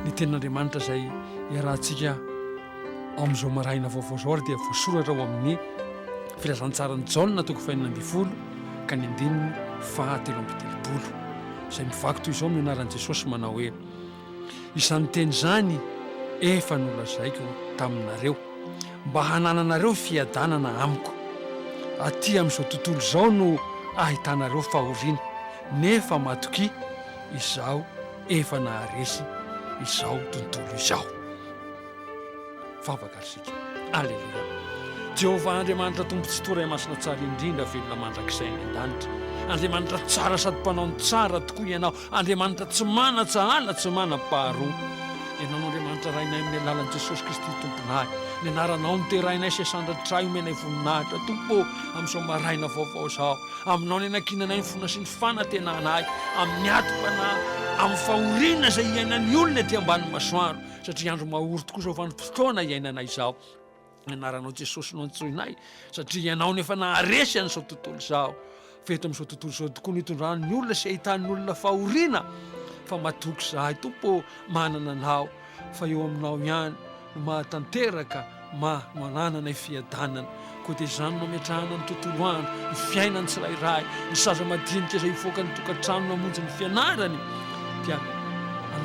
Ny tenin'Andriamanitra izay iarahantsika amin'izao maraina vaovao izao ary dia voasoratra ao amin'ny filazantsaran'i Jaona toko fahenina ambin'ny folo ka ny andininy fahatelo amby telopolo izay mivaky toy izao ny anaran'i Jesosy manao hoe Izany teny izany efa nolazaiko taminareo, mba hanananareo fiadanana amiko. Aty amin'izao tontolo izao no ahitanareo fahoriana, nefa matokia, Izaho efa naharesy izao tontolo izao. Vavaka isika. Aleloia. Jehovah Andriamanitra Tompo Tsitoha Ray Masina Tsara Indrindra Velona Mandrakizay any An-danitra Andriamanitra Tsara Sady Mpanao ny Tsara tokoa Ianao. Andriamanitra tsy manan-tsahala, tsy manam-paharoa. Ianao no Andriamanitra Rainay amin'ny alalan'i Jesosy Kristy Tomponay. Ny Anaranao no derainay sy asandratrahy omenay voninahitra, Tompo ô, amin'izao maraina vaovao izao. Aminao no ianankinanay ny finoana sy ny fanantenanay amin'ny adim-panahy, amin'ny fahoriana izay iainan'ny olona ety ambany masoandro, satria andro mahory tokoa izao vanim-potoana iainanay izao. Ny anaranao Jesosy no antsoinay satria ianao no efa naharesy an'izao tontolo izao. Fa eto amin'izao tontolo izao tokoa no itondran'ny olona sy ahitan'ny olona fahoriana. Fa matoky izahay Tompo ô, manana anao fa eo aminao ihany no mahatanteraka ma no anananay fiadanana. Koa dia izany no ametrahana ny tontolo andro, ny fiainan'ny tsirairay, ny saza madinika izay hivoaka ny tokantrano namonjy ny fianarany dia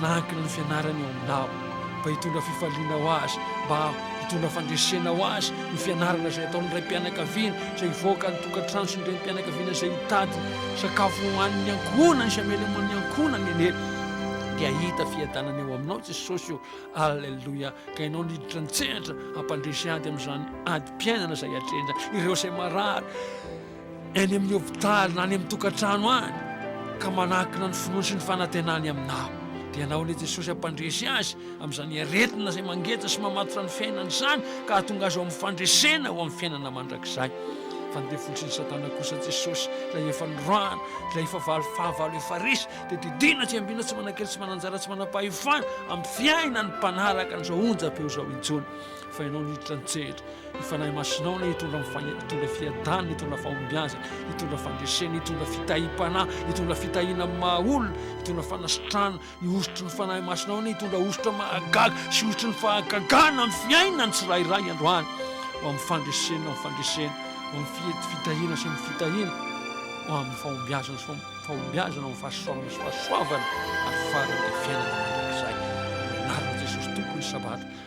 manankina ny fianarany eo aminao. mba hitondra fifaliana ho azy, mba hitondra fandresena ho azy ny fianarana izay ataon'ny raim-pianakaviana izay hivoaka ny tokantrano sy ny renim-pianakaviana izay hitady sakafo ho an'ny ankohonany sy hameleman'ny ankohonany anie dia hahita fiadanana eo aminao Jesosy o Alleluia ka ianao niditra nitsehatra hampandresy ady amin'izany adim-piainana izay atrehina ireo izay marary eny amin'ny hopitaly na any amin'ny tokantrano any ka manakina ny finoany sy ny fanantenany aminao. Dia ianao ilay Jesosy hampandresy azy amin'izany aretina izay mangeja sy mamatotra ny fiainany izany ka hahatonga azy ho amin'ny fandresena ho amin'ny fiainana mandrakizay. Fa ny devoly sy ny Satana kosa Jesosy ilay efa noroahana, ilay efa valo fahavalo efa resy dia didiana tsiambina tsy manan-kery tsy manan-jara tsy manam-pahefana amin'ny fiainan'ny mpanaraka an'izao onjam-peo izao intsony. fa ianao no hiditra ny tsehatra ny fanahy masinao no hitondra ny fahiny hitondra fiadanana hitondra fahombiazana hitondra fandresena hitondra fitahim-panahy hitondra fitahiana amin'ny maha olona hitondra fanasitrana ny hosotry ny fanahy masinao no hitondra hosotra mahagaga sy hosotry ny fahagagana amin'ny fiainany tsirairay androany ho amin'ny fandresena amin'ny fandresena ho amin'ny fihety fitahiana sy amin'ny fitahiana ho amin'ny fahombiazana sy fahombiazana amin'ny fahasoavana sy fahasoavana ary farany fiainana mandrakizay anarana Jesosy tompony sabata